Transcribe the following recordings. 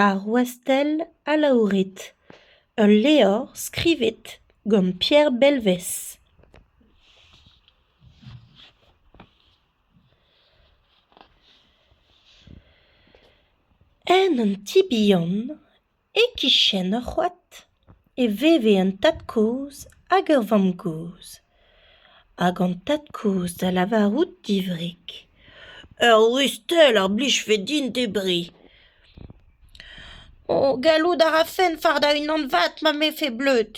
Ar Wastell alaouret, ul levr skrivet gant Pierre Belvez. En un ti bihan, e-kichen ur c'hoad. e veve un tad-kozh hag ur vamm-gozh hag an tad-kozh da lavarout divrik ur rustell a blijfe din debriñ o gallout a rafen fardañ unan vat ma mefe bleud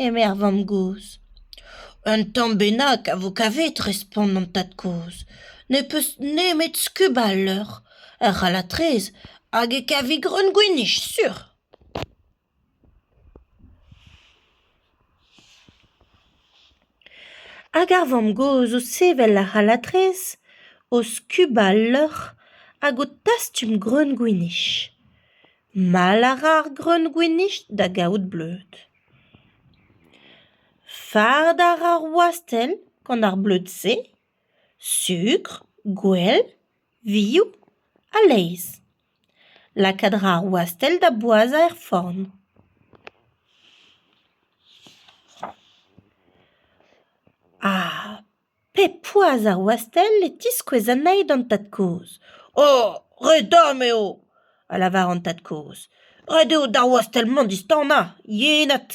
eme ar vamm-gozh un tamm bennak a vo kavet respont an tad-kozh ne peus nemet skubañ al leur ur c'halatrez hag e kavi greun gwinich sur Hag ar vamm-gozh o sevel ar c'halatrez, o skubañ al leur hag o tastum greun-gwinich. Mall a ra ar greun-gwinich da gaout bleud. Fard a ra ar wastell gant ar bleud-se, sukr, gwell, vioù ha laezh. Lakaat a ra ar wastell da boazhañ er forn. Ha pep poazh ar wastell e tiskouez anezhi d'an tad-kozh. Oh ! re dam eo ! a lavar an tad-kozh. Ret eo d'ar wastell-mañ distanañ, yenad.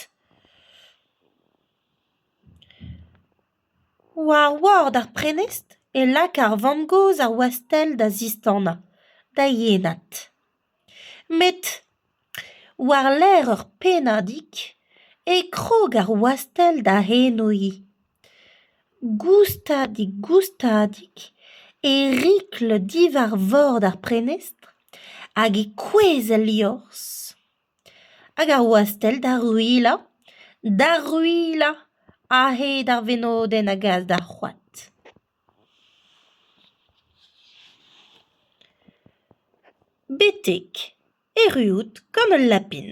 War ward ar prenestr e laka ar vamm-gozh ar wastell da zistanañ, da yenad. Met war-lerc'h ur pennadig e krog ar wastell da henoiñ. Goustadik-goustadik e rikl diwar vord ar prenestr hag e kouezh el liorzh. Hag ar wastell da ruilhañ, da ruilhañ a-hed ar venodenn a gas d'ar c'hoad. Betek erruout gant ul lapin.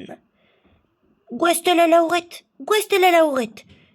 Gwastell alaouret, gwastell alaouret.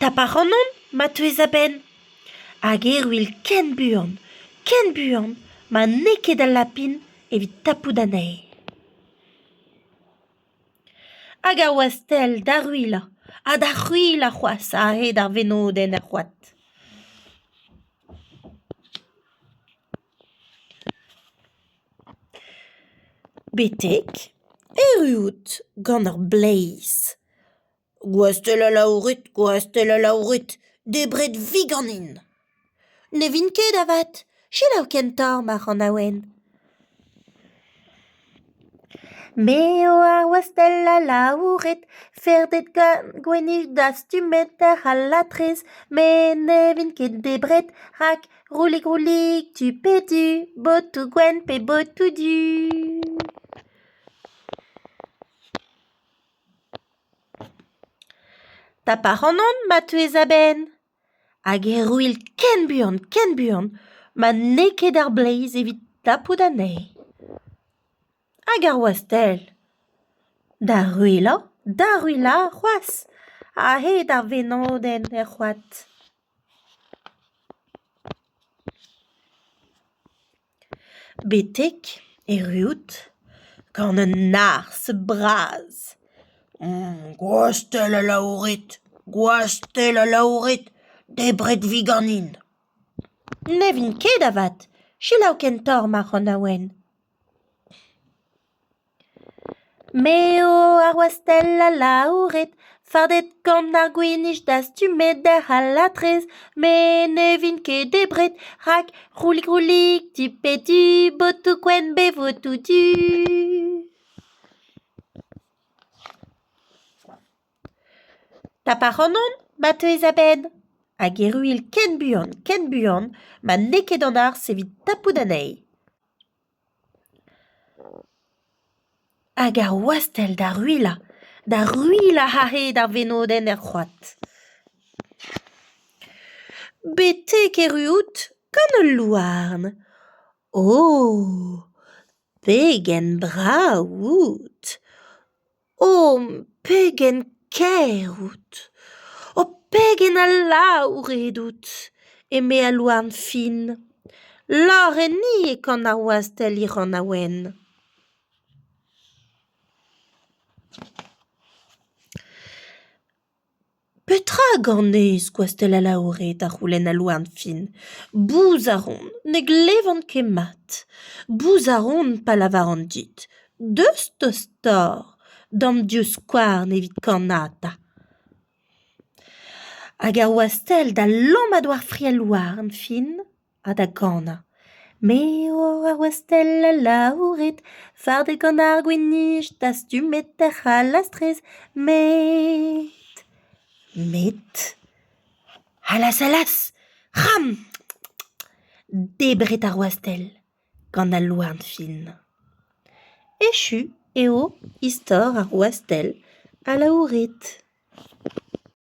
Taparannon ma teuez a-benn hag erruil ken buan, ken buan ma n'eo ket al lapin evit tapout anezhi. Hag a oa sell d'ar uilañ ha d'ar c'hwilañ c'hoazh a-hed ar venodenn er c'hoad. Betek erruout gant ar bleiz. Gwastell alaouret, gwastell alaouret, debret 'vi ganin. Ne vin ket avat, selaou kentañ mar anaouen. Me eo ar wastell alaouret, ferded gant gwennij dastumet àr al latrez, met ne vin ket debret rak Rolig-rolig, tu pe du, botoù gwenn pe botoù du. Taparannon ma teuez a-benn hag erruill ken buan, ken buan ma n'eo ket ar bleiz evit tapout anezhi. Hag ar wastell da ruilhañ, da ruilhañ c'hoazh a-hed ar venodenn er c'hoad. Betek erruout gant un arzh bras. Gwastell alaouret, gwastell alaouret, debret 'vi ganin. Ne vin ket avat, selaou ken torr ma c'hanaouenn. Me eo ar wastell alaouret, fardet gant ar gwinich dastumet d'ar halatrez. Me ne vin ket debret, rak roulig-roulig di pe di, botoù-gwenn pe votoù-du. Tap ac'hanon, ma teuez a-benn. Hag erru int ken buan, ken buan, ma n'eo ket an arz evit tapout anezhi. Hag ar wastell da ruilhañ, da ruilhañ a-hed ar venodenn er c'hoad. Betek erru out gant ul louarn. O! pegen brav out ! O pegen kaer out! O pegen alaour eo out! eme al louarn fin. Lârenni e kanañ wastell hiranañ wenn. Petra a ganez, Gwastell Alaouret? a c'houlenn al louarn-fin. Bouz a ron, ne glevan ket mat. Bouz a ron pa lavaran dit. Deus tostoc'h d'am divskouarn evit kannata. Hag ar wastell da lomm a-doare fri al louarn-fin. ha da ganañ. Me eo ur westell alaouret, fardet gant ar gwinij dastumet er c'halastrez, met... met... allas allas! c'hram! Debret ar wastell gant al louarn fin. Echu eo istor ar wastell alaouret.